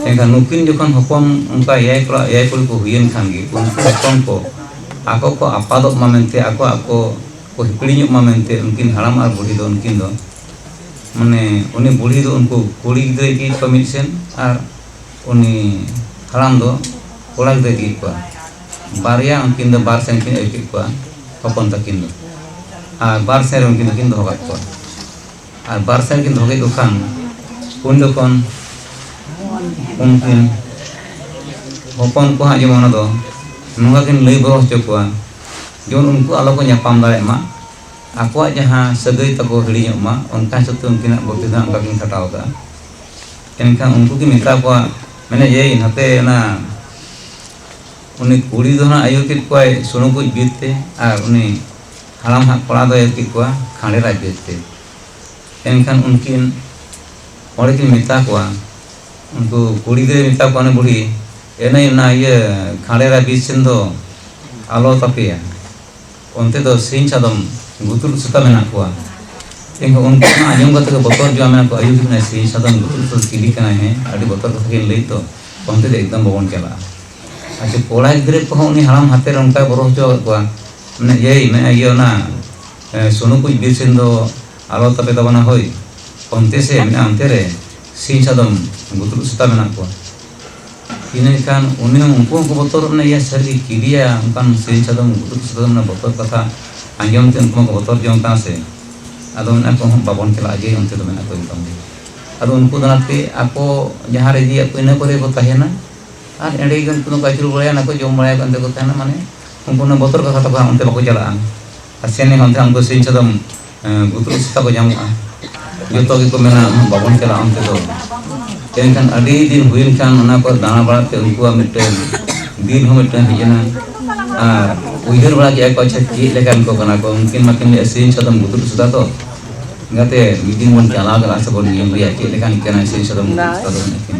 ᱮᱱᱠᱷᱟᱱ ᱱᱩᱠᱤᱱ ᱡᱚᱠᱷᱚᱱ ᱦᱚᱯᱚᱱ ᱚᱱᱠᱟ ᱮᱭᱟᱭ ᱠᱚᱲᱟ ᱮᱭᱟᱭ ᱠᱩᱲᱤ ᱠᱚ ᱦᱩᱭᱮᱱ ᱠᱷᱟᱱ ᱜᱮ ᱩᱱᱠᱩ ᱦᱚᱯᱚᱱ ᱠᱚ ᱟᱠᱚ ᱠᱚ ᱟᱯᱟᱫᱚᱜ ᱢᱟ ᱢᱮᱱᱛᱮ ᱟᱠᱚ ᱟᱠᱚ ᱠᱚ ᱦᱤᱯᱤᱲᱤᱧᱚᱜ ᱢᱟ ᱢᱮᱱᱛᱮ ᱩᱱᱠᱤᱱ ᱦᱟᱲᱟᱢ ᱟᱨ ᱵᱩᱲᱦᱤ ᱫᱚ ᱩᱱᱠᱤᱱ ᱫᱚ ᱢᱟᱱᱮ ᱩᱱᱤ ᱵᱩᱲᱦᱤ ᱫᱚ ᱩᱱᱠᱩ ᱠᱩᱲᱤ ᱜᱤᱫᱽᱨᱟᱹ ᱤᱫᱤᱭᱮᱫ ᱠᱚᱣᱟ ᱢᱤᱫ ᱥᱮᱱ ᱟᱨ ᱩᱱᱤ ᱦᱟᱲᱟᱢ ᱫᱚ ᱠᱚᱲᱟ ᱜᱤᱫᱽᱨᱟᱹ ᱤᱫᱤᱭᱮᱫ ᱠᱚᱣᱟ ᱵᱟᱨᱭᱟ ᱩᱱᱠᱤᱱ ᱫᱚ ᱵᱟᱨ ᱥᱮᱱ ᱠᱤᱱ ᱟᱹᱭᱩᱨ ᱠᱮᱫ ᱠᱚᱣᱟ ᱦᱚᱯᱚᱱ ᱛᱟᱹᱠᱤᱱ ᱫᱚ ᱟᱨ ᱵᱟᱨ ᱥᱮᱱ ᱨᱮ ᱩᱱᱠᱤᱱ ᱫᱚᱠᱤᱱ ᱫᱚᱦᱚ ᱠᱟᱜ ᱠᱚᱣᱟ ᱟᱨ ᱵᱟᱨ ᱥᱟᱭ ᱠᱤᱱ ᱫᱚᱦᱚ ᱠᱮᱫ ᱠᱚ ᱠᱷᱟᱱ ᱩᱱ ᱡᱚᱠᱷᱚᱱ ᱩᱱᱠᱤᱱ ᱦᱚᱯᱚᱱ ᱠᱚ ᱦᱟᱸᱜ ᱡᱮᱢᱚᱱ ᱚᱱᱟ ᱫᱚ ᱱᱚᱝᱠᱟ ᱠᱤᱱ ᱞᱟᱹᱭ ᱵᱚᱨᱚ ᱦᱚᱪᱚ ᱠᱚᱣᱟ ᱡᱮᱢᱚᱱ ᱩᱱᱠᱩ ᱟᱞᱚ ᱠᱚ ᱧᱟᱯᱟᱢ ᱫᱟᱲᱮᱭᱟᱜ ᱢᱟ ᱟᱠᱚᱣᱟᱜ ᱡᱟᱦᱟᱸ ᱥᱟᱹᱜᱟᱹᱭ ᱛᱟᱠᱚ ᱦᱤᱲᱤᱧᱚᱜ ᱢᱟ ᱚᱱᱠᱟ ᱦᱤᱥᱟᱹᱵ ᱛᱮ ᱩᱱᱠᱤᱱᱟᱜ ᱵᱩᱫᱽᱫᱷᱤ ᱫᱚ ᱚᱱᱠᱟ ᱠᱤᱱ ᱠᱷᱟᱴᱟᱣ ᱠᱟᱜᱼᱟ ᱮᱱᱠᱷᱟᱱ ᱩᱱᱠᱩ ᱠᱤᱱ ᱢᱮᱛᱟ ᱠᱚᱣᱟ ᱢᱮᱱᱮ ᱮᱭ ᱱᱟᱛᱮ ᱚᱱᱟ ᱩᱱᱤ ᱠᱩᱲᱤ ᱫᱚ ᱦᱟᱸᱜ ᱟᱹᱭᱩᱨ ᱠᱮᱫ ᱠᱚᱣᱟᱭ ᱥᱩᱱᱩ ᱠᱚ ᱵᱤᱨ ᱛᱮ ᱟᱨ ᱩᱱᱤ ᱦᱟᱲᱟᱢ ᱦᱟᱜ ᱠᱚᱲᱟ ᱫᱚᱭ ᱮᱨ ᱠᱮᱫ ᱠᱚᱣᱟ ᱠᱷᱟᱸᱰᱮ ᱨᱟᱡᱽ ᱫᱮᱡ ᱛᱮ ᱮᱱᱠᱷᱟᱱ ᱩᱱᱠᱤᱱ ᱦᱚᱲ ᱠᱤᱱ ᱢᱮᱛᱟ ᱠᱚᱣᱟ ᱩᱱᱠᱩ ᱠᱩᱲᱤ ᱫᱚᱭ ᱢᱮᱛᱟ ᱠᱚᱣᱟ ᱵᱩᱲᱦᱤ ᱮᱱᱮᱡ ᱚᱱᱟ ᱤᱭᱟᱹ ᱠᱷᱟᱸᱰᱮ ᱨᱟᱡᱽ ᱵᱤᱨ ᱥᱮᱱ ᱫᱚ ᱟᱞᱚ ᱛᱟᱯᱮᱭᱟ ᱚᱱᱛᱮ ᱫᱚ ᱥᱤᱧ ᱪᱟᱸᱫᱚᱢ ᱜᱩᱛᱩᱞ ᱥᱮᱛᱟ ᱢᱮᱱᱟᱜ ᱠᱚᱣᱟ ᱮᱱᱠᱷᱟᱱ ᱩᱱᱠᱩ ᱚᱱᱟ ᱟᱸᱡᱚᱢ ᱠᱟᱛᱮ ᱠᱚ ᱵᱚᱛᱚᱨ ᱡᱚᱜᱼᱟ ᱢᱮᱱᱟ ᱠᱚ ᱟᱭᱩ ᱠᱟᱱᱟᱭ ᱥᱤᱧ ᱪᱟᱸᱫᱚᱢ ᱜᱩᱛᱩᱞ ᱥᱮᱛᱟ ᱪᱤᱞᱤ ᱠᱟᱱᱟᱭ ᱦᱮᱸ ᱟᱹᱰᱤ ᱵᱚᱛᱚᱨ ᱠᱟᱛᱷᱟ ᱠᱤᱱ ᱞᱟᱹᱭ ᱛᱚ ᱚᱱᱛᱮ ᱫᱚ ᱮᱠᱫᱚᱢ ᱵᱟᱵᱚᱱ ᱪᱟᱞᱟᱜᱼᱟ ᱟᱪᱪᱷᱟ ᱠᱚᱲᱟ ᱜᱤᱫᱽᱨᱟᱹ ᱠᱚᱦᱚᱸ ᱩᱱᱤ ᱦᱟᱲᱟᱢ ᱦᱟᱛᱮᱨ ᱚᱱᱠᱟ ᱵᱚᱨᱚ ᱦᱚᱪᱚ ᱟᱠᱟᱫ ᱠᱚᱣᱟ ᱢᱟᱱᱮ ᱮᱭ ᱢᱮ ᱤᱭᱟᱹ ᱚᱱᱟ ᱥᱩᱱᱩ ᱠᱩᱡ ᱵᱤᱨ ᱥᱮᱱ ᱫᱚ ᱟᱞᱚ ᱛᱟᱯᱮ ᱛᱟᱵᱚᱱᱟ ᱦᱳᱭ ᱚᱱᱛᱮ ᱥᱮ ᱢᱮᱱᱟᱜᱼᱟ ᱚᱱᱛᱮ ᱨᱮ ᱥᱤᱧ ᱥᱟᱫᱚᱢ ᱜᱩᱛᱩᱲᱩ ᱥᱮᱛᱟ ᱢᱮᱱᱟᱜ ᱠᱚᱣᱟ ᱤᱱᱟᱹ ᱠᱷᱟᱱ ᱩᱱᱤ ᱦᱚᱸ ᱩᱱᱠᱩ ᱦᱚᱸᱠᱚ ᱵᱚᱛᱚᱨ ᱢᱟᱱᱮ ᱤᱭᱟᱹ ᱥᱟᱹᱨᱤ ᱠᱤᱨᱤᱭᱟ ᱚᱱᱠᱟᱱ ᱥᱤᱧ ᱥᱟᱫᱚᱢ ᱜᱩᱛᱩᱲᱩ ᱥᱮᱛᱟ ᱢᱟᱱᱮ ᱵᱚᱛᱚᱨ ᱠᱟᱛᱷᱟ ᱟᱸᱡᱚᱢ ᱛᱮ ᱩᱱᱠᱩ ᱦᱚᱸᱠᱚ ᱵᱚᱛᱚᱨ ᱡᱚᱝ ᱠᱟᱱᱟ ᱥᱮ ᱟᱫᱚ ᱢᱮᱱᱟᱜ ᱠᱚ ᱦᱚᱸ ᱵᱟᱵᱚᱱ ᱪᱟᱞᱟᱜᱼᱟ ᱡᱮ ᱚᱱᱛᱮ ᱫᱚ ᱢᱮᱱᱟᱜ ᱠᱚ ᱮᱠᱫᱚᱢ ᱜᱮ ᱟᱫᱚ ᱩᱱᱠᱩ ᱫᱚ ᱚᱱᱟᱛᱮ ᱟᱠᱚ ᱡᱟᱦᱟᱸ ᱨᱮ ᱤᱫᱤᱭᱮᱫ ᱠᱚ ᱤᱱᱟᱹ ᱠᱚᱨᱮ ᱠᱚ ᱛᱟᱦᱮᱱᱟ ᱟᱨ ᱮᱸᱰᱮ ᱜᱮ ᱩᱱᱠᱩ ᱫᱚᱠᱚ ᱟᱹᱪᱩᱨ ᱵᱟᱲᱟᱭᱟ ᱚᱱᱟ ᱠᱚ ᱡᱚᱢ ᱵᱟᱲᱟᱭᱟᱠᱚ ᱚᱱᱛᱮ ᱠᱚ ᱛᱟᱦᱮᱱᱟ ᱢᱟᱱᱮ ᱩᱱᱠᱩ ᱩᱱᱟᱹᱜ ᱵᱚᱛᱚᱨ ᱠᱚ ᱠᱟᱛᱷᱟ ᱠᱚ ᱚᱱᱛᱮ ᱵᱟᱠᱚ ᱪᱟᱞᱟᱜᱼᱟ ᱟᱨ ᱥᱮᱱ ᱞᱮᱱᱠᱷᱟᱱ ᱚᱱᱛᱮ ᱩᱱᱠᱩ ᱥᱤᱧ ᱥᱟᱫᱚᱢ ᱜᱩᱛᱩᱨ ᱥᱮᱛᱟ ᱠᱚ ᱧᱟᱢᱚᱜᱼᱟ ᱡᱚᱛᱚ ᱜᱮᱠᱚ ᱢᱮᱱᱟ ᱵᱟᱵᱚᱱ ᱪᱟᱞᱟᱜᱼᱟ ᱚᱱᱛᱮ ᱫᱚ ᱮᱱᱠᱷᱟᱱ ᱟᱹᱰᱤ ᱫᱤᱱ ᱦᱩᱭᱮᱱ ᱠᱷᱟᱱ ᱚᱱᱟ ᱠᱚ ᱫᱟᱬᱟ ᱵᱟᱲᱟ ᱛᱮ ᱩᱱᱠᱩᱣᱟᱜ ᱢᱤᱫᱴᱮᱱ ᱫᱤᱞ ᱦᱚᱸ ᱢᱤᱫᱴᱮᱱ ᱦᱮᱡ ᱮᱱᱟ ᱟᱨ ᱩᱭᱦᱟᱹᱨ ᱵᱟᱲᱟ ᱠᱮᱫᱼᱟ ᱠᱚ ᱟᱪᱪᱷᱟ ᱪᱮᱫ ᱞᱮᱠᱟᱱ ᱠᱚ ᱠᱟᱱᱟ ᱠᱚ ᱩᱱᱠᱤᱱ ᱢᱟᱠᱤᱱ ᱞᱟᱹᱭᱮᱫ ᱥᱤᱧ ᱥᱟᱫᱚᱢ ᱜᱩᱛᱩᱨ ᱥᱮᱛᱟ ᱫᱚ ᱜᱟᱛᱮ ᱢᱤᱫ ᱫᱤᱱ ᱵᱚᱱ ᱪᱟᱞᱟᱣ ᱠᱟᱱᱟ ᱥᱮᱵᱚᱱ ᱧᱮᱞ ᱞᱮᱭᱟ ᱪᱮᱫ ᱞᱮᱠᱟᱱ ᱠᱟᱱᱟᱭ ᱥᱤᱧ ᱥᱟᱫᱚᱢ ᱜᱩᱛᱩᱨ ᱥᱮᱛᱟ ᱫᱚ ᱢᱮᱱᱟᱠᱤᱱ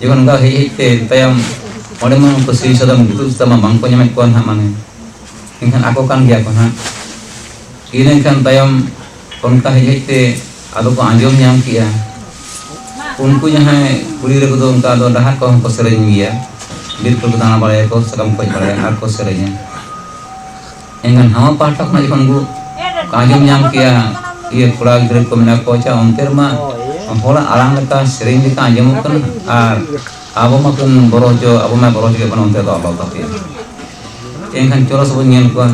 ᱡᱮᱢᱚᱱ ᱚᱱᱠᱟ ᱦᱮᱡ ᱦᱮᱡ ᱛᱮ ᱛᱟᱭᱚᱢ ᱚᱸᱰᱮ ᱢᱟ ᱩᱱᱠᱩ ᱥᱤᱨᱤ ᱥᱟᱫᱚᱢ ᱫᱩᱫᱩ ᱥᱮᱛᱟ ᱢᱟ ᱵᱟᱝᱠᱚ ᱧᱟᱢᱮᱫ ᱠᱚᱣᱟ ᱱᱟᱦᱟᱜ ᱢᱟᱱᱮ ᱮᱱᱠᱷᱟᱱ ᱟᱠᱚ ᱠᱟᱱ ᱜᱮᱭᱟ ᱠᱚ ᱱᱟᱦᱟᱜ ᱤᱱ ᱮᱱᱠᱷᱟᱱ ᱛᱟᱭᱚᱢ ᱚᱱᱠᱟ ᱦᱮᱡ ᱦᱮᱡ ᱛᱮ ᱟᱫᱚ ᱠᱚ ᱟᱸᱡᱚᱢ ᱧᱟᱢ ᱠᱮᱜᱼᱟ ᱩᱱᱠᱩ ᱡᱟᱦᱟᱸᱭ ᱠᱩᱲᱤ ᱜᱤᱫᱽᱨᱟᱹ ᱠᱚᱫᱚ ᱚᱱᱠᱟ ᱫᱚ ᱰᱟᱦᱟᱨ ᱠᱚᱦᱚᱸ ᱠᱚ ᱥᱮᱨᱮᱧ ᱜᱮᱭᱟ ᱵᱤᱨ ᱠᱚᱠᱚ ᱫᱟᱬᱟ ᱵᱟᱲᱟᱭᱟᱠᱚ ᱥᱟᱠᱟᱢ ᱠᱚ ᱦᱮᱡ ᱵᱟᱲᱟᱭᱟ ᱟᱨ ᱠᱚ ᱥᱮᱨᱮᱧᱟ ᱮᱱᱠᱷᱟᱱ ᱱᱟᱣᱟ ᱯᱟᱦᱴᱟ ᱠᱷᱚᱱᱟᱜ ᱡᱚᱠᱷᱚᱱ ᱠᱚ ᱟᱸᱡᱚᱢ ᱧᱟᱢ ᱠᱮᱭᱟ ᱤᱭᱟᱹ ᱠᱚᱲᱟ ᱜᱤᱫᱽᱨᱟᱹ ᱠᱚ ᱢᱮᱱᱟᱜ ᱠᱚᱣᱟ ᱪᱟ ᱚᱱᱛᱮ ᱨᱮᱢᱟ ᱦᱚᱲᱟᱜ ᱟᱲᱟᱝ ᱞᱮᱠᱟ ᱥᱮᱨᱮᱧ ᱞᱮᱠᱟ ᱟᱸᱡᱚᱢᱚᱜ ᱠᱟᱱᱟ ᱟᱨ ᱟᱵᱚ ᱢᱟ ᱠᱚ ᱵᱚᱨᱚ ᱦᱚᱪᱚ ᱟᱵᱚ ᱢᱟ ᱵᱚᱨᱚ ᱦᱚᱪᱚ ᱵᱚᱱ ᱚᱱᱛᱮ ᱫᱚ ᱟᱞᱚ ᱛᱟᱯᱮ ᱮᱱᱠᱷᱟᱱ ᱪᱚᱨᱚᱥ ᱵᱚᱱ ᱧᱮᱞ ᱠᱚᱣᱟ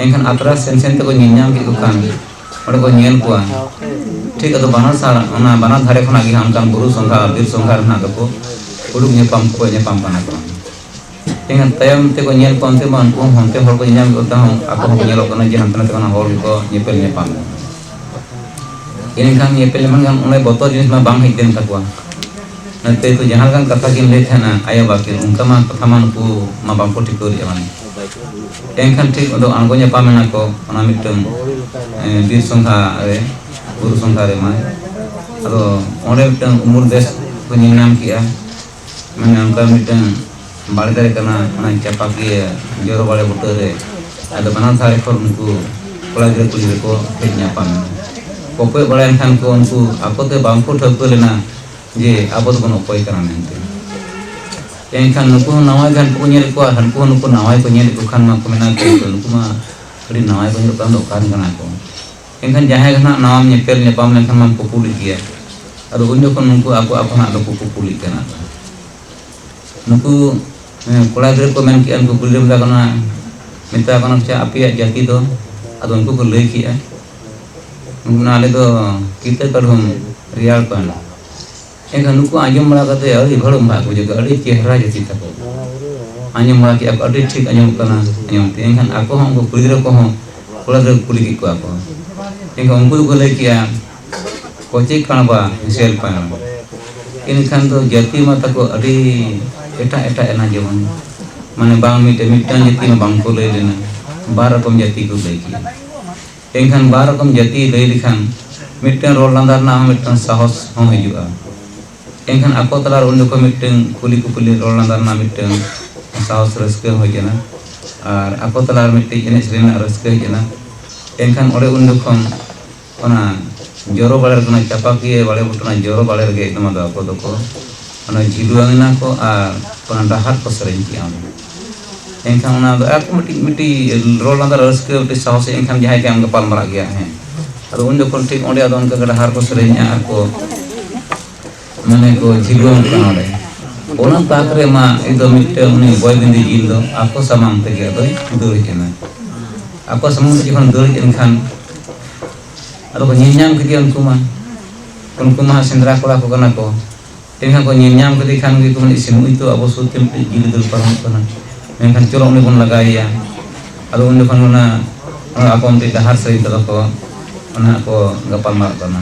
ᱮᱱᱠᱷᱟᱱ ᱟᱛᱨᱟ ᱥᱮᱱ ᱥᱮᱱ ᱛᱮᱠᱚ ᱧᱮᱞ ᱧᱟᱢ ᱠᱮᱫ ᱠᱚ ᱠᱷᱟᱱ ᱚᱸᱰᱮ ᱠᱚ ᱧᱮᱞ ᱠᱚᱣᱟ ᱴᱷᱤᱠ ᱟᱫᱚ ᱵᱟᱱᱟᱨ ᱥᱟᱲ ᱚᱱᱟ ᱵᱟᱱᱟᱨ ᱫᱷᱟᱨᱮ ᱠᱷᱚᱱᱟᱜ ᱜᱮ ᱚᱱᱠᱟᱱ ᱵᱩᱨᱩ ᱥᱚᱸᱜᱷᱟ ᱵᱤᱨ ᱥᱚᱸᱜᱷᱟ ᱨᱮᱱᱟᱜ ᱫᱚᱠᱚ ᱩᱰᱩᱠ ᱧᱟᱯᱟᱢ ᱠᱚ ᱧᱟᱯᱟᱢ ᱠᱟᱱᱟ ᱠᱚ ᱛᱮᱦᱮᱧ ᱛᱟᱭᱚᱢ ᱛᱮᱠᱚ ᱧᱮᱞ ᱠᱚᱣᱟ ᱚᱱᱛᱮ ᱢᱟ ᱩᱱᱠᱩ ᱦᱚᱸ ᱚᱱᱛᱮ ᱦᱚᱲ ᱠᱚ ᱧᱮᱧᱟᱢ ᱠᱚ ᱛᱟᱦᱮᱸ ᱟᱠᱚ ᱦᱚᱸᱠᱚ ᱧᱮᱞᱚᱜ ᱠᱟᱱᱟ ᱡᱮ ᱦᱟᱱᱛᱮ ᱱᱟᱛᱮ ᱠᱷᱚᱱᱟᱜ ᱦᱚᱲ ᱜᱮᱠᱚ ᱧᱮᱯᱮᱞ ᱧᱟᱯᱟᱢ ᱠᱟᱱᱟ ᱮᱱᱠᱷᱟᱱ ᱧᱮᱯᱮᱞ ᱧᱟᱯᱟᱢ ᱠᱷᱟᱱ ᱚᱱᱮ ᱵᱚᱛᱚᱨ ᱡᱤᱱᱤᱥ ᱢᱟ ᱵᱟᱝ ᱦᱮᱡ ᱞᱮᱱ ᱛᱟᱠᱚᱣᱟ ᱱᱚᱛᱮ ᱠᱚ ᱡᱟᱦᱟᱸ ᱞᱮᱠᱟᱱ ᱠᱟᱛᱷᱟ ᱠᱤᱱ ᱞᱟᱹᱭ ᱛᱟᱦᱮᱱᱟ ᱟᱭᱳ ᱵᱟᱵᱟ ᱠᱤᱱ ᱚᱱᱠᱟ ᱢᱟ ᱠᱟᱛᱷᱟ ᱢᱟ ᱱᱩᱠᱩ ᱢᱟ ᱵᱟᱝᱠᱚ ᱴᱷᱤᱠᱟᱹ ᱞᱮᱫᱼᱟ ᱢᱟᱱᱮ ᱮᱱᱠᱷᱟᱱ ᱴᱷᱤᱠ ᱟᱫᱚ ᱟᱬᱜᱚ ᱧᱟᱯᱟᱢ ᱮᱱᱟ ᱠᱚ ᱚᱱᱟ ᱢᱤᱫᱴᱟᱝ ᱵᱤᱨ ᱥᱚᱸᱜᱷᱟ ᱨᱮ ᱵᱩᱨᱩ ᱥᱚᱸᱜᱷᱟ ᱨᱮ ᱢᱟᱱᱮ ᱟᱫᱚ ᱚᱸᱰᱮ ᱢᱤᱫᱴᱟᱝ ᱩᱢᱩᱞ ᱫᱮᱥ ᱠᱚ ᱧᱮᱞ ᱧᱟᱢ ᱠᱮᱫᱼᱟ ᱢᱟᱱᱮ ᱚᱱᱠᱟ ᱢᱤᱫᱴᱟᱝ ᱵᱟᱲᱜᱮ ᱨᱮ ᱠᱟᱱᱟ ᱚᱱᱟ ᱪᱟᱯᱟᱠᱤᱭᱟᱹ ᱡᱚᱨᱚ ᱵᱟᱲᱮ ᱵᱩᱴᱟᱹ ᱨᱮ ᱟᱫᱚ ᱵᱟᱱᱟᱨ ᱫᱷᱟᱨᱮ ᱠᱷᱚᱱ ᱩᱱᱠᱩ ᱠᱚᱲᱟ ᱜᱤᱫᱽᱨᱟᱹ ᱠᱩᱲᱤ ᱜᱤᱫᱽᱨᱟᱹ ᱠᱚ ᱦᱮᱡ ᱧᱟᱯᱟᱢ ᱮᱱᱟ ᱠᱚᱠᱚᱭ ᱵᱟᱲᱟᱭᱮᱱ ᱠᱷᱟᱱ ᱠᱚ ᱩᱱᱠᱩ ᱟᱠᱚ ᱛᱮ ᱵᱟᱝ ᱠᱚ ᱴᱷᱟᱹᱣᱠᱟᱹ ᱞᱮᱱᱟ ᱡᱮ ᱟᱵᱚ ᱫᱚᱵᱚᱱ ᱚᱠᱚᱭ ᱠᱟᱱᱟ ᱢᱮᱱᱛᱮ ᱮᱱᱠᱷᱟᱱ ᱱᱩᱠᱩ ᱦᱚᱸ ᱱᱟᱣᱟ ᱜᱮ ᱦᱟᱱᱠᱩ ᱠᱚ ᱧᱮᱞᱮᱫ ᱠᱚᱣᱟ ᱦᱟᱱᱠᱩ ᱦᱚᱸ ᱱᱩᱠᱩ ᱱᱟᱣᱟ ᱠᱚ ᱧᱮᱞᱮᱫ ᱠᱚ ᱠᱷᱟᱱ ᱢᱟᱠᱚ ᱢᱮᱱᱟ ᱱᱩᱠᱩ ᱢᱟ ᱟᱹᱰᱤ ᱱᱟᱣᱟ ᱠᱚ ᱧᱮᱞᱚᱜ ᱠᱟᱱ ᱫᱚ ᱚᱠᱟᱨᱮᱱ ᱠᱟᱱᱟ ᱠᱚ ᱮᱱᱠᱷᱟᱱ ᱡᱟᱦᱟᱸᱭ ᱜᱮ ᱱᱟᱦᱟᱜ ᱱᱟᱣᱟᱢ ᱧᱮᱯᱮᱞ ᱧᱟᱯᱟᱢ ᱞᱮᱱᱠᱷᱟᱱ ᱢᱟᱢ ᱠᱩᱯᱩᱞᱤᱜ ᱜᱮᱭᱟ ᱟᱫᱚ ᱩᱱ ᱡᱚᱠᱷᱚᱱ ᱱᱩᱠᱩ ᱟᱠᱚ ᱟᱠᱚ ᱱᱟᱦᱟᱜ ᱫᱚᱠᱚ ᱠᱩᱯᱩᱞᱤᱜ ᱠᱟᱱᱟ ᱱᱩᱠᱩ ᱠᱚᱲᱟ ᱜᱤᱫᱽᱨᱟᱹ ᱠᱚ ᱢᱮᱱ ᱠᱮᱜᱼᱟ ᱱᱩᱠᱩ ᱠᱩᱲᱤ ᱜᱤᱫᱽᱨᱟᱹ ᱢᱮᱛᱟ ᱠᱟᱱᱟ ᱢᱮᱛᱟ ᱠᱟᱱᱟ ᱪᱮ ᱟᱯᱮᱭᱟᱜ ᱡᱟᱹᱛᱤ ᱫᱚ ᱟᱫᱚ ᱩᱱᱠᱩ ᱠᱚ ᱞᱟᱹᱭ ᱠᱮᱜᱼᱟ ᱩᱱᱠᱩ ᱟᱞᱮ ᱫᱚ ᱠᱤᱛᱟᱹ ᱠᱟᱹᱰᱷᱩᱢ ᱨᱮᱭᱟᱲ ᱯᱟᱱ ᱮᱱᱠᱷᱟᱱ ᱱᱩᱠᱩ ᱟᱸᱡᱚᱢ ᱵᱟᱲᱟ ᱠᱟᱛᱮ ᱟᱹᱰᱤ ᱜᱷᱟᱹᱲᱩᱢ ᱨᱟᱜ ᱠᱚ ᱡᱚᱜᱟ ᱟᱹᱰᱤ ᱪᱮᱦᱨᱟ ᱡᱟᱹᱛᱤ ᱛᱟᱠᱚ ᱟᱸᱡᱚᱢ ᱵᱟᱲᱟ ᱠᱮᱫᱼᱟ ᱠᱚ ᱟᱹᱰᱤ ᱴᱷᱤᱠ ᱟᱸᱡᱚᱢᱚᱜ ᱠᱟᱱᱟ ᱟᱸᱡᱚᱢ ᱛᱮ ᱮᱱᱠᱷᱟᱱ ᱟᱠᱚ ᱦᱚᱸ ᱩᱱᱠᱩ ᱠᱩᱲᱤ ᱜᱤᱫᱽᱨᱟᱹ ᱠᱚᱦᱚᱸ ᱠᱚᱲᱟ ᱜᱤᱫᱽᱨᱟᱹ ᱠᱩᱞᱤ ᱠᱮᱫ ᱠᱚᱣᱟ ᱠᱚ ᱮᱱᱠᱷᱟᱱ ᱩᱱᱠᱩ ᱫᱚᱠᱚ ᱞᱟᱹᱭ ᱠᱮᱫᱼᱟ ᱠᱚᱪᱮ ᱠᱟᱬᱵᱟ ᱦᱮᱥᱮᱞ ᱯᱟᱬ ᱮᱱᱠᱷᱟᱱ ᱫᱚ ᱡᱟᱹᱛᱤ ᱢᱟ ᱛᱟᱠᱚ ᱟᱹᱰᱤ ᱮᱴᱟᱜ ᱮᱴᱟᱜ ᱮᱱᱟ ᱡᱮᱢᱚᱱ ᱢᱟᱱᱮ ᱵᱟᱝ ᱢᱤᱫᱴᱮᱱ ᱢᱤᱫᱴᱟᱝ ᱡᱟᱹᱛᱤ ᱢᱟ ᱵᱟᱝ ᱠᱚ ᱞᱟᱹᱭ ᱞᱮᱱᱟ ᱵᱟᱨ ᱨᱚᱠᱚᱢ ᱡᱟᱹᱛᱤ ᱠᱚ ᱞᱟᱹᱭ ᱠᱮᱫᱼᱟ ᱮᱱᱠᱷᱟᱱ ᱵᱟᱨ ᱨᱚᱠᱚᱢ ᱡᱟᱹᱛᱤᱭ ᱞᱟᱹᱭ ᱞᱮᱠᱷᱟᱱ ᱢᱤᱫᱴᱟᱹᱝ ᱨᱚᱲ ᱞᱟᱸᱫᱟ ᱨᱮᱱᱟᱜ ᱦᱚᱸ ᱢᱤᱫᱴᱟᱹᱝ ᱥᱟᱦᱚᱥ ᱦᱚᱸ ᱦᱤᱡᱩᱜᱼᱟ᱾ ᱮᱱᱠᱷᱟᱱ ᱟᱠᱚ ᱛᱟᱞᱟ ᱨᱮ ᱩᱱ ᱡᱚᱠᱷᱚᱱ ᱢᱤᱫᱴᱟᱹᱝ ᱠᱩᱞᱤ ᱠᱩᱯᱩᱞᱤ ᱨᱚᱲ ᱞᱟᱸᱫᱟ ᱨᱮᱱᱟᱜ ᱢᱤᱫᱴᱟᱹᱝ ᱥᱟᱦᱚᱥ ᱨᱟᱹᱥᱠᱟᱹ ᱦᱚᱸ ᱦᱮᱡ ᱮᱱᱟ ᱟᱨ ᱟᱠᱚ ᱛᱟᱞᱟ ᱨᱮ ᱢᱤᱫᱴᱤᱡ ᱮᱱᱮᱡ ᱥᱮᱨᱮᱧ ᱨᱮᱱᱟᱜ ᱨᱟᱹᱥᱠᱟᱹ ᱦᱮᱡ ᱮᱱᱟ᱾ ᱮᱱᱠᱷᱟᱱ ᱚᱸᱰᱮ ᱩᱱ ᱡᱚᱠᱷᱚᱱ ᱚᱱᱟ ᱡᱚᱨᱚ ᱵᱟᱲᱮ ᱨᱮᱜᱮ ᱚᱱᱟ ᱪᱟᱯᱟᱠᱤᱭᱟᱹ ᱵᱟᱲᱮ ᱵᱩᱴᱟᱹ ᱚᱱᱟ ᱡᱚᱨᱚ ᱵᱟᱲᱮ ᱨᱮᱜᱮ ᱮᱠᱫᱚᱢ ᱟᱫᱚ ᱟᱠᱚ ᱫᱚᱠᱚ ᱚᱱᱟ ᱡᱷᱤᱞᱣᱟᱹᱝ ᱮᱱᱟ ᱠᱚ ᱟᱨ ᱚᱱᱟ ᱰᱟᱦᱟᱨ ᱠᱚ ᱥᱮᱨᱮᱧ ᱠᱮᱫᱼᱟ ᱚᱸᱰᱮ᱾ ᱮᱱᱠᱷᱟᱱ ᱚᱱᱟ ᱫᱚ ᱟᱨ ᱢᱤᱫᱴᱤᱡ ᱢᱤᱫᱴᱤᱡ ᱨᱚᱲ ᱞᱟᱸᱫᱟ ᱨᱟᱹᱥᱠᱟᱹ ᱢᱤᱫᱴᱤᱡ ᱥᱟᱦᱚᱥ ᱮᱱᱠᱷᱟᱱ ᱡᱟᱦᱟᱸᱭ ᱜᱮ ᱟᱢ ᱜᱟᱯᱟᱞ ᱢᱟᱨᱟᱜ ᱜᱮᱭᱟ ᱦᱮᱸ ᱟᱫᱚ ᱩᱱ ᱡᱚᱠᱷᱚᱱ ᱴᱷᱤᱠ ᱚᱸᱰᱮ ᱟᱫᱚ ᱚᱱᱠᱟ ᱰᱟᱦᱟᱨ ᱠᱚ ᱥᱮᱨᱮᱧᱟ ᱟᱨ ᱠᱚ ᱢᱟᱱᱮ ᱠᱚ ᱡᱷᱤᱞᱣᱟᱹᱝ ᱠᱟᱱᱟ ᱚᱸᱰᱮ ᱚᱱᱟ ᱛᱟᱠ ᱨᱮ ᱢᱟ ᱤᱧ ᱫᱚ ᱢᱤᱫᱴᱮᱱ ᱩᱱᱤ ᱵᱚᱭ ᱵᱤᱱᱫᱤ ᱡᱤᱞ ᱫᱚ ᱟᱠᱚ ᱥᱟᱢᱟᱝ ᱛᱮᱜᱮ ᱟᱫᱚᱭ ᱫᱟᱹᱲ ᱮᱱᱟ ᱟᱠᱚ ᱥᱟᱢᱟᱝ ᱛᱮ ᱡᱚᱠᱷᱚᱱ ᱫᱟᱹᱲ ᱮᱱᱠᱷᱟᱱ ᱟᱫᱚ ᱠᱚ ᱧᱮᱞ ᱧᱟᱢ ᱠᱮᱫᱮᱭᱟ ᱩᱱᱠᱩ ᱢᱟ ᱩᱱᱠᱩ ᱢᱟ ᱥᱮᱸᱫᱽᱨᱟ ᱠᱚᱲᱟ ᱠᱚ ᱠᱟᱱᱟ ᱠᱚ ᱛᱮᱦᱮᱧ ᱠᱚ ᱧᱮᱞ ᱧᱟᱢ ᱠᱮᱫᱮ ᱠᱷᱟᱱ ᱜᱮᱠᱚ ᱢᱮᱱᱟ ᱤᱥᱤ ᱱᱩᱭ ᱛᱚ ᱟᱵᱚ ᱥᱩᱨ ᱛᱮ ᱢᱤᱫᱴᱮᱡ ᱡᱤᱭᱟᱹᱞᱤ ᱫᱟᱹᱲ ᱯᱟᱨᱚᱢᱚᱜ ᱠᱟᱱᱟ ᱢᱮᱱᱠᱷᱟᱱ ᱪᱚᱞᱚ ᱩᱱᱤ ᱵᱚᱱ ᱞᱟᱜᱟᱭᱮᱭᱟ ᱟᱫᱚ ᱩᱱ ᱡᱚᱠᱷᱚᱱ ᱚᱱᱟ ᱚᱱᱟ ᱟᱠᱚ ᱢᱤᱫᱴᱮᱡ ᱰᱟᱦᱟᱨ ᱥᱟᱹᱨᱤ ᱛᱮᱫᱚ ᱠᱚ ᱚᱱᱟ ᱠᱚ ᱜᱟᱯᱟᱞ ᱢᱟᱨᱟᱜ ᱠᱟᱱᱟ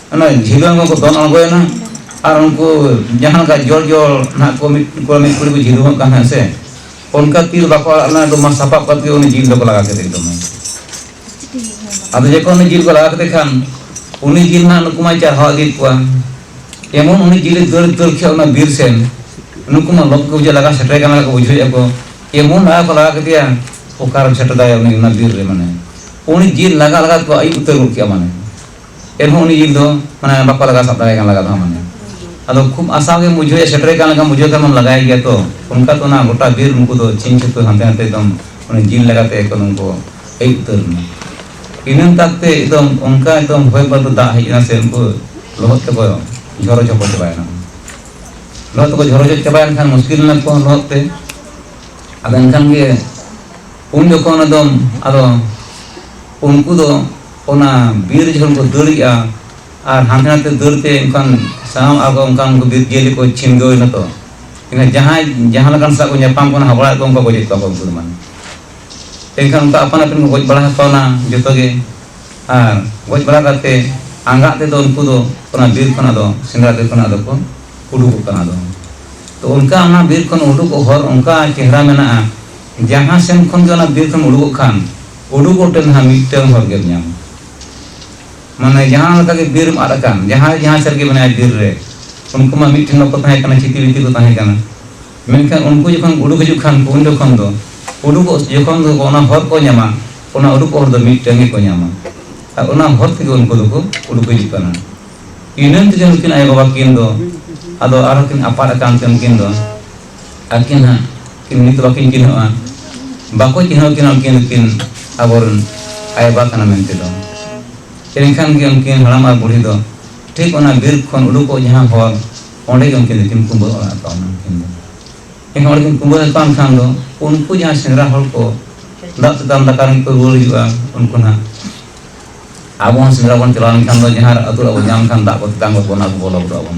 ᱚᱱᱟ ᱡᱷᱤᱞᱟᱹ ᱦᱚᱸᱠᱚ ᱫᱚᱱ ᱟᱬᱜᱚᱭᱮᱱᱟ ᱟᱨ ᱩᱱᱠᱩ ᱡᱟᱦᱟᱸ ᱞᱮᱠᱟ ᱡᱚᱲ ᱡᱚᱲ ᱱᱟᱦᱟᱜ ᱠᱚ ᱢᱤᱫ ᱠᱚᱲᱟ ᱢᱤᱫ ᱠᱩᱲᱤ ᱠᱚ ᱡᱷᱤᱞᱩᱢᱚᱜ ᱠᱟᱱ ᱦᱮᱸ ᱥᱮ ᱚᱱᱠᱟ ᱛᱤᱨ ᱵᱟᱠᱚ ᱟᱲᱟᱜ ᱞᱮᱱᱟ ᱮᱠᱫᱚᱢ ᱢᱟ ᱥᱟᱯᱟᱵ ᱠᱟᱛᱮ ᱩᱱᱤ ᱡᱤᱞ ᱫᱚᱠᱚ ᱞᱟᱜᱟ ᱠᱮᱫᱮ ᱮᱠᱫᱚᱢ ᱟᱫᱚ ᱡᱚᱠᱷᱚᱱ ᱩᱱᱤ ᱡᱤᱞ ᱠᱚ ᱞᱟᱜᱟ ᱠᱮᱫᱮ ᱠᱷᱟᱱ ᱩᱱᱤ ᱡᱤᱞ ᱱᱟᱦᱟᱜ ᱱᱩᱠᱩ ᱢᱟᱭ ᱪᱟᱨᱦᱟᱣ ᱤᱫᱤᱭᱮᱫ ᱠᱚᱣᱟ ᱮᱢᱚᱱ ᱩᱱᱤ ᱡᱤᱞᱮ ᱫᱟᱹᱲ ᱫᱟᱹᱲ ᱠᱮᱫ ᱚᱱᱟ ᱵᱤᱨ ᱥᱮᱱ ᱱᱩᱠᱩ ᱢᱟ ᱞᱚᱵ ᱠᱚ ᱵᱩᱡᱷᱟᱹᱣ ᱞᱟᱜᱟ ᱥᱮᱴᱮᱨ ᱠᱟᱱᱟ ᱠᱚ ᱵᱩᱡᱷᱟᱹᱣᱮᱫᱼᱟ ᱠᱚ ᱮᱢᱚᱱ ᱞᱟᱜᱟ ᱠᱚ ᱞᱟᱜᱟ ᱠᱮᱫᱮᱭᱟ ᱚᱠᱟᱨᱮᱢ ᱥᱮᱴᱮᱨ ᱫᱟᱲᱮᱭᱟᱜᱼᱟ ᱩᱱᱤ ᱚᱱᱟ ᱵᱤᱨ ᱨᱮ ᱢᱟᱱᱮ ᱩᱱᱤ ᱡᱤᱞ ᱞᱟᱜᱟ ᱞᱟᱜᱟ ᱛᱮᱠᱚ ᱟᱹᱭᱩᱵ ᱩᱛᱟᱹᱨ ᱜᱚᱫ ᱠᱮᱫᱼᱟ ᱢᱟᱱᱮ ᱮᱱᱦᱚᱸ ᱩᱱᱤ ᱡᱤᱵᱽ ᱫᱚ ᱢᱟᱱᱮ ᱵᱟᱠᱚ ᱞᱟᱜᱟ ᱥᱟᱵ ᱫᱟᱲᱮᱭᱟᱜ ᱠᱟᱱ ᱞᱟᱜᱟ ᱫᱚ ᱢᱟᱱᱮ ᱟᱫᱚ ᱠᱷᱩᱵ ᱟᱥᱟᱣ ᱜᱮ ᱵᱩᱡᱷᱟᱹᱣ ᱥᱮᱴᱮᱨ ᱠᱟᱱ ᱞᱮᱠᱟ ᱵᱩᱡᱷᱟᱹᱣ ᱠᱷᱟᱱ ᱞᱟᱜᱟᱭ ᱜᱮᱭᱟ ᱛᱚ ᱚᱱᱠᱟ ᱛᱚ ᱚᱱᱟ ᱜᱚᱴᱟ ᱵᱤᱨ ᱩᱱᱠᱩ ᱫᱚ ᱪᱤᱱ ᱪᱷᱩᱛᱩ ᱦᱟᱱᱛᱮ ᱱᱟᱛᱮ ᱮᱠᱫᱚᱢ ᱩᱱᱤ ᱡᱤᱞ ᱞᱟᱜᱟᱛᱮ ᱮᱠᱫᱚᱢ ᱩᱱᱠᱩ ᱟᱹᱭᱩᱵ ᱩᱛᱟᱹᱨ ᱮᱱᱟ ᱤᱱᱟᱹ ᱛᱟᱠᱛᱮ ᱮᱠᱫᱚᱢ ᱚᱱᱠᱟ ᱮᱠᱫᱚᱢ ᱦᱚᱭ ᱵᱟᱹᱨᱰᱩ ᱫᱟᱜ ᱦᱮᱡ ᱮᱱᱟ ᱥᱮ ᱩᱱᱠᱩ ᱞᱚᱦᱚᱫ ᱛᱮᱠᱚ ᱡᱷᱚᱨᱚ ᱡᱷᱚᱯᱚ ᱪᱟᱵᱟᱭᱮᱱᱟ ᱞᱚᱦᱚᱫ ᱛᱮᱠᱚ ᱡᱷᱚᱨᱚ ᱡᱷᱚᱯ ᱪᱟᱵᱟᱭᱮᱱ ᱠᱷᱟᱱ ᱢᱩᱥᱠᱤᱞ ᱮᱱᱟ ᱠᱚ ᱞᱚᱦᱚᱫ ᱛᱮ ᱟᱫᱚ ᱮᱱᱠᱷᱟᱱ ᱜᱮ ᱩᱱ ᱡᱚᱠᱷᱚᱱ ᱮᱠᱫᱚᱢ ᱟᱫᱚ ᱩᱱᱠᱩ ᱫᱚ ᱚᱱᱟ ᱵᱤᱨ ᱡᱚᱠᱷᱚᱱ ᱠᱚ ᱫᱟᱹᱲᱮᱜᱼᱟ ᱟᱨ ᱦᱟᱱᱛᱮ ᱱᱟᱛᱮ ᱫᱟᱹᱲ ᱛᱮ ᱚᱱᱠᱟᱱ ᱥᱟᱶ ᱟᱠᱚ ᱚᱱᱠᱟᱱ ᱩᱱᱠᱩ ᱵᱤᱨ ᱡᱤᱭᱟᱹᱞᱤ ᱠᱚ ᱪᱷᱤᱱᱜᱟᱹᱣ ᱮᱱᱟ ᱛᱚ ᱮᱱᱠᱷᱟᱱ ᱡᱟᱦᱟᱸᱭ ᱡᱟᱦᱟᱸ ᱞᱮᱠᱟᱱ ᱥᱟᱶ ᱠᱚ ᱧᱟᱯᱟᱢ ᱠᱟᱱᱟ ᱦᱟᱵᱲᱟᱜ ᱠᱚ ᱚᱱᱠᱟ ᱜᱚᱡᱮᱫ ᱠᱚᱣᱟ ᱠᱚ ᱩᱱᱠᱩ ᱫᱚ ᱢᱟᱱᱮ ᱮᱱᱠᱷᱟᱱ ᱚᱱᱠᱟ ᱟᱯᱟᱱ ᱟᱹᱯᱤᱱ ᱠᱚ ᱜᱚᱡ ᱵᱟᱲᱟ ᱟᱠᱚᱣᱟ ᱡᱚᱛᱚ ᱜᱮ ᱟᱨ ᱜᱚᱡ ᱵᱟᱲᱟ ᱠᱟᱛᱮ ᱟᱸᱜᱟᱜ ᱛᱮᱫᱚ ᱩᱱᱠᱩ ᱫᱚ ᱚᱱᱟ ᱵᱤᱨ ᱠᱷᱚᱱᱟᱜ ᱫᱚ ᱥᱮᱸᱫᱽᱨᱟ ᱵᱤᱨ ᱠᱷᱚᱱᱟᱜ ᱫᱚᱠᱚ ᱩᱰᱩᱠᱚᱜ ᱠᱟᱱᱟ ᱫᱚ ᱛᱚ ᱚᱱᱠᱟ ᱚᱱᱟ ᱵᱤᱨ ᱠᱷᱚᱱ ᱩᱰᱩᱠᱚᱜ ᱦᱚᱨ ᱚᱱᱠᱟ ᱪᱮᱦᱨᱟ ᱢᱮᱱᱟᱜᱼᱟ ᱡᱟᱦᱟᱸ ᱥᱮᱱ ᱠᱷᱚᱱ ᱜᱮ ᱚᱱᱟ ᱵᱤᱨ ᱠᱷᱚᱱ ᱩᱰᱩᱠᱚᱜ ᱠᱷᱟᱱ ᱩᱰᱩᱠ ᱚᱠᱛᱮ ᱱᱟᱦᱟᱜ ᱢᱤᱫᱴᱟᱝ ᱦᱚᱲ ᱜᱮᱢ ᱧᱟᱢᱟ ᱢᱟᱱᱮ ᱡᱟᱦᱟᱸ ᱞᱮᱠᱟ ᱜᱮ ᱵᱤᱨ ᱟᱫ ᱟᱠᱟᱱ ᱡᱟᱦᱟᱸᱭ ᱡᱟᱦᱟᱸ ᱥᱮᱫ ᱜᱮ ᱢᱮᱱᱟᱭᱟ ᱵᱤᱨ ᱨᱮ ᱩᱱᱠᱩ ᱢᱟ ᱢᱤᱫᱴᱮᱱ ᱵᱟᱠᱚ ᱛᱟᱦᱮᱸ ᱠᱟᱱᱟ ᱪᱷᱤᱛᱤ ᱵᱤᱛᱤ ᱠᱚ ᱛᱟᱦᱮᱸ ᱠᱟᱱᱟ ᱢᱮᱱᱠᱷᱟᱱ ᱩᱱᱠᱩ ᱡᱚᱠᱷᱚᱱ ᱩᱰᱩᱠ ᱦᱤᱡᱩᱜ ᱠᱷᱟᱱ ᱩᱱ ᱡᱚᱠᱷᱚᱱ ᱫᱚ ᱩᱰᱩᱠᱚᱜ ᱡᱚᱠᱷᱚᱱ ᱫᱚ ᱚᱱᱟ ᱦᱚᱨ ᱠᱚ ᱧᱟᱢᱟ ᱚᱱᱟ ᱩᱰᱩᱠ ᱦᱚᱨ ᱫᱚ ᱢᱤᱫᱴᱟᱝ ᱜᱮᱠᱚ ᱧᱟᱢᱟ ᱟᱨ ᱚᱱᱟ ᱦᱚᱨ ᱛᱮᱜᱮ ᱩᱱᱠᱩ ᱫᱚᱠᱚ ᱩᱰᱩᱠ ᱦᱤᱡᱩᱜ ᱠᱟᱱᱟ ᱤᱱᱟᱹ ᱛᱮᱜᱮ ᱱᱩᱠᱤᱱ ᱟᱭᱳᱼᱵᱟᱵᱟ ᱠᱤᱱ ᱫᱚ ᱟᱫᱚ ᱟᱨᱦᱚᱸ ᱠᱤᱱ ᱟᱯᱟᱫ ᱟᱠᱟᱱ ᱛᱮ ᱩᱱᱠᱤᱱ ᱫᱚ ᱟᱨᱠᱤ ᱱᱟᱦᱟᱜ ᱠᱤᱱ ᱱᱤᱛ ᱵᱟᱠᱤᱱ ᱪᱤᱱᱦᱟᱹᱜᱼᱟ ᱵᱟᱠᱚ ᱪᱤᱱᱦᱟᱹᱣ ᱠᱤᱱᱟ ᱩᱱᱠᱤᱱ ᱩᱱᱠᱤᱱ ᱟᱵᱚᱨᱮᱱ ᱟᱭᱳᱼᱵᱟᱵᱟ ᱠᱟᱱᱟ ᱢᱮᱱᱛᱮ ᱫᱚ ᱮᱱᱠᱷᱟᱱ ᱜᱮ ᱩᱱᱠᱤᱱ ᱦᱟᱲᱟᱢ ᱟᱨ ᱵᱩᱲᱦᱤ ᱫᱚ ᱴᱷᱤᱠ ᱚᱱᱟ ᱵᱤᱨ ᱠᱷᱚᱱ ᱩᱰᱩᱠᱚᱜ ᱡᱟᱦᱟᱸ ᱦᱚᱨ ᱚᱸᱰᱮ ᱜᱮ ᱩᱱᱠᱤᱱ ᱫᱚᱠᱤᱱ ᱠᱩᱢᱵᱟᱹ ᱚᱲᱟᱜ ᱟᱠᱟᱫ ᱚᱱᱟ ᱩᱱᱠᱤᱱ ᱫᱚ ᱮᱱᱠᱷᱟᱱ ᱚᱸᱰᱮ ᱠᱤᱱ ᱠᱩᱢᱵᱟᱹ ᱟᱠᱟᱫ ᱠᱷᱟᱱ ᱫᱚ ᱩᱱᱠᱩ ᱡᱟᱦᱟᱸ ᱥᱮᱸᱫᱽᱨᱟ ᱦᱚᱲ ᱠᱚ ᱫᱟᱜ ᱛᱮᱛᱟᱝ ᱫᱟᱠᱟ ᱨᱮᱱ ᱠᱚ ᱨᱩᱣᱟᱹᱲ ᱦᱤᱡᱩᱜᱼᱟ ᱩᱱᱠᱩ ᱱᱟᱦᱟᱜ ᱟᱵᱚ ᱦᱚᱸ ᱥᱮᱸᱫᱽᱨᱟ ᱵᱚᱱ ᱪᱟᱞᱟᱣ ᱞᱮᱱᱠᱷᱟᱱ ᱫᱚ ᱡᱟᱦᱟᱸ ᱟᱹᱛᱩ ᱚᱲᱟᱜ ᱵᱚᱱ ᱧᱟᱢ ᱞᱮᱠᱷᱟᱱ ᱫᱟᱜ ᱠᱚ ᱛᱮᱛᱟᱝ ᱜᱚᱫ ᱵᱚᱱᱟ ᱟᱵᱚ ᱵᱚᱞᱚ ᱜᱚᱫᱚᱜ ᱟᱵᱚᱱ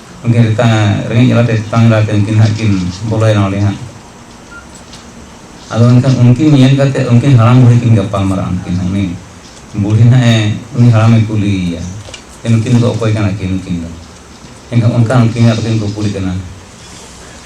ᱩᱱᱠᱤᱱ ᱛᱮᱛᱟᱝ ᱨᱮᱸᱜᱮᱡ ᱡᱟᱞᱟ ᱛᱮ ᱛᱮᱛᱟᱝ ᱡᱟᱞᱟ ᱛᱮ ᱩᱱᱠᱤᱱ ᱦᱟᱸᱜ ᱠᱤᱱ ᱵᱚᱞᱚᱭᱮᱱᱟ ᱚᱸᱰᱮ ᱦᱟᱸᱜ ᱟᱫᱚ ᱮᱱᱠᱷᱟᱱ ᱩᱱᱠᱤᱱ ᱧᱮᱞ ᱠᱟᱛᱮ ᱩᱱᱠᱤᱱ ᱦᱟᱲᱟᱢ ᱵᱩᱲᱦᱤ ᱠᱤᱱ ᱜᱟᱯᱟᱞ ᱢᱟᱨᱟᱜ ᱩᱱᱠᱤᱱ ᱦᱚᱸ ᱩᱱᱤ ᱵᱩᱲᱦᱤ ᱦᱟᱸᱜ ᱮ ᱩᱱᱤ ᱦᱟᱲᱟᱢᱮ ᱠᱩᱞᱤᱭᱮᱭᱟ ᱱᱩᱠᱤᱱ ᱫᱚ ᱚᱠᱚᱭ ᱠᱟᱱᱟ ᱠᱤᱱ ᱱᱩᱠᱤᱱ ᱫᱚ ᱮᱱᱠᱷᱟᱱ ᱚᱱᱠᱟ ᱩᱱᱠᱤᱱ ᱟᱫᱚ ᱠᱤᱱ ᱠᱩᱯᱩᱞᱤ ᱠᱟᱱᱟ